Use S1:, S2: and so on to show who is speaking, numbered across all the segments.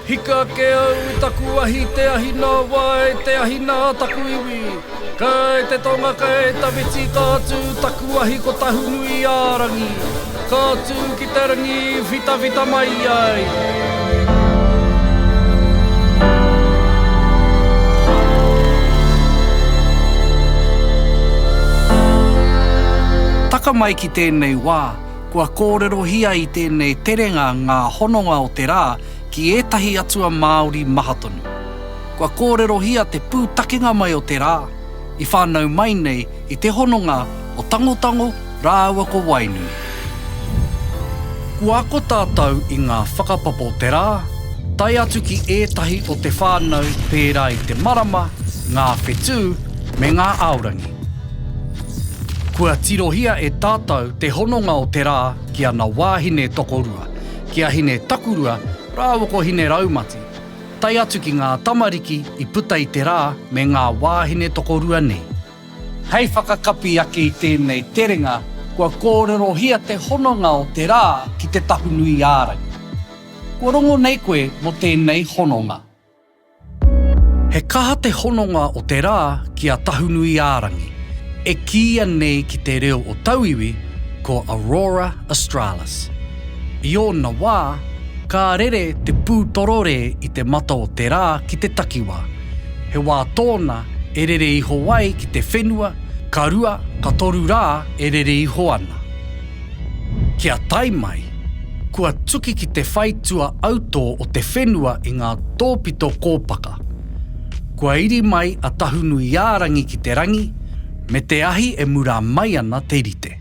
S1: Hika ake au i taku ahi Te ahi nā wā e te ahi nā taku iwi Kai te tonga kai tawhiti Ka tū taku ahi ko Tahunui-ā-rangi Ka tū ki te rangi i whitawhita mai ai I tēnei wā, kua kōrerohia i tēnei terenga ngā hononga o te rā ki ētahi atua Māori maha tonu. Kua kōrerohia te pūtakenga mai o te rā, i whānau mai nei i te hononga o Tangotango rāua ko Wainui. Kua ako tātou i ngā whakapapa o te rā, tae atu ki ētahi o te whānau pērā i te marama, ngā whetū, me ngā aorangi. Kua tirohia e tātou te hononga o te rā ki ana wāhine tokorua, ki a Hine Takurua rāua ko Hine Raumati, tae atu ki ngā tamariki i puta i te rā me ngā wāhine tokorua nei. Hei whakakapi ake i tēnei terenga, kua kōrerohia te hononga o te rā ki Te Tahunui-ā-rangi. Kua rongo nei koe mō tēnei hononga? He kaha te hononga o te rā ki a Tahunuiārangi, e kīia nei ki te reo o tauiwi ko Aurora Australis. I ōna wā, ka rere te pū tororē i te mata o te rā ki te takiwā. He wā tōna e rere iho ai ki te whenua, ka rua, ka toru rā e rere iho ana. Kia tae mai, kua tuki ki te whai tua autō o te whenua i ngā tōpito kōpaka. Kua iri mai a Tahunuiārangi ki te rangi, me te ahi e murā mai ana te rite.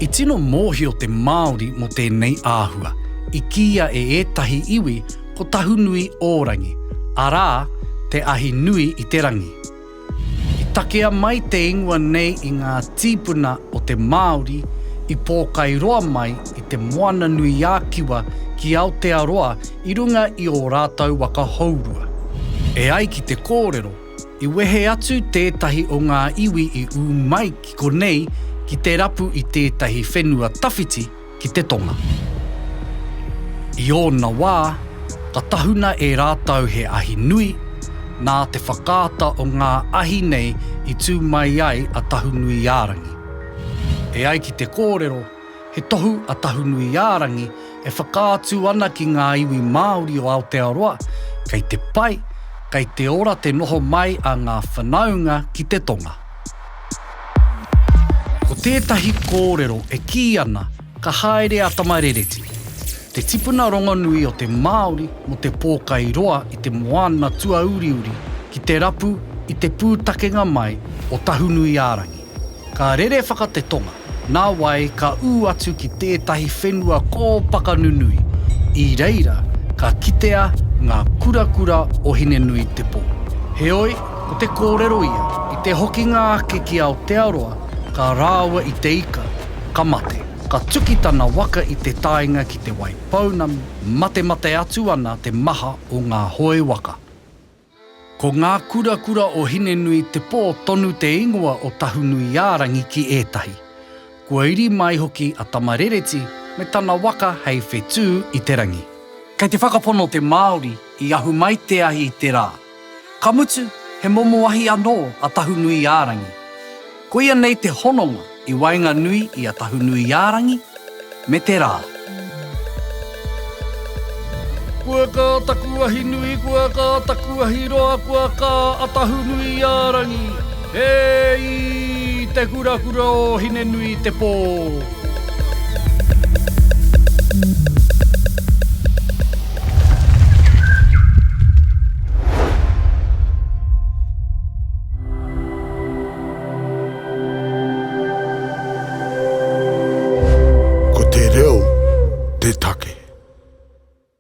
S1: I tino mōhio te Māori mō tēnei āhua, i kīia e ētahi iwi ko Tahunuiōrangi, arā, te ahi nui i te rangi. I takea mai te ingoa nei i ngā tīpuna o te Māori i Pōkairoa mai i te Moana-nui-ā-Kiwa ki Aotearoa i runga i ō rātou waka hourua. E ai ki te kōrero, i wehe atu tētahi o ngā iwi i ū mai ki konei ki te rapu i tētahi whenua tawhiti, ki te tonga. I ōna wā, ka tahuna e rātou he ahi nui, nā te whakaata o ngā ahi nei i tū mai ai a Tahunuiārangi. E ai ki te kōrero, he tohu a Tahunuiārangi e whakaatu ana ki ngā iwi Māori o Aotearoa, kei te pai, kei te ora te noho mai a ngā whanaunga ki te tonga. Ko tētahi kōrero e kī ana ka haere a Tamarereti, te tipuna rongonui o te Māori mō te pōkai roa i te moana tuauriuri ki te rapu i te pūtakenga mai o Tahunui-ā-rangi. Ka rere whaka te tonga, Nā wai ka ū atu ki tētahi whenua kōpaka nunui, i reira ka kitea ngā kurakura o Hinenuitepō. Heoi, ko te kōrero ia, i te hokinga ake ki Aotearoa, ka rāua i te ika, ka mate. Ka tuki tana waka i te taenga ki Te Waipounamu, matemate atu ana te maha o ngā hoe waka. Ko ngā kurakura o Hinenui Te Pō tonu te ingoa o Tahunuiārangi ki ētahi. Kua iri mai hoki a Tamarereti me tana waka hei whetū i te rangi. Kei te whakapono te Māori i ahu mai te ahi i te rā. Ka mutu, he momo ahi anō a Tahunuiārangi. Koia nei te hononga i waenganui i a Tahunuiārangi me te rā. Kua kā taku ahi nui, kua kā taku ahi roa, kua kā a Tahunuiārangi, e i te kurakura o Hine-nui-te-pō. Ko te reo te take.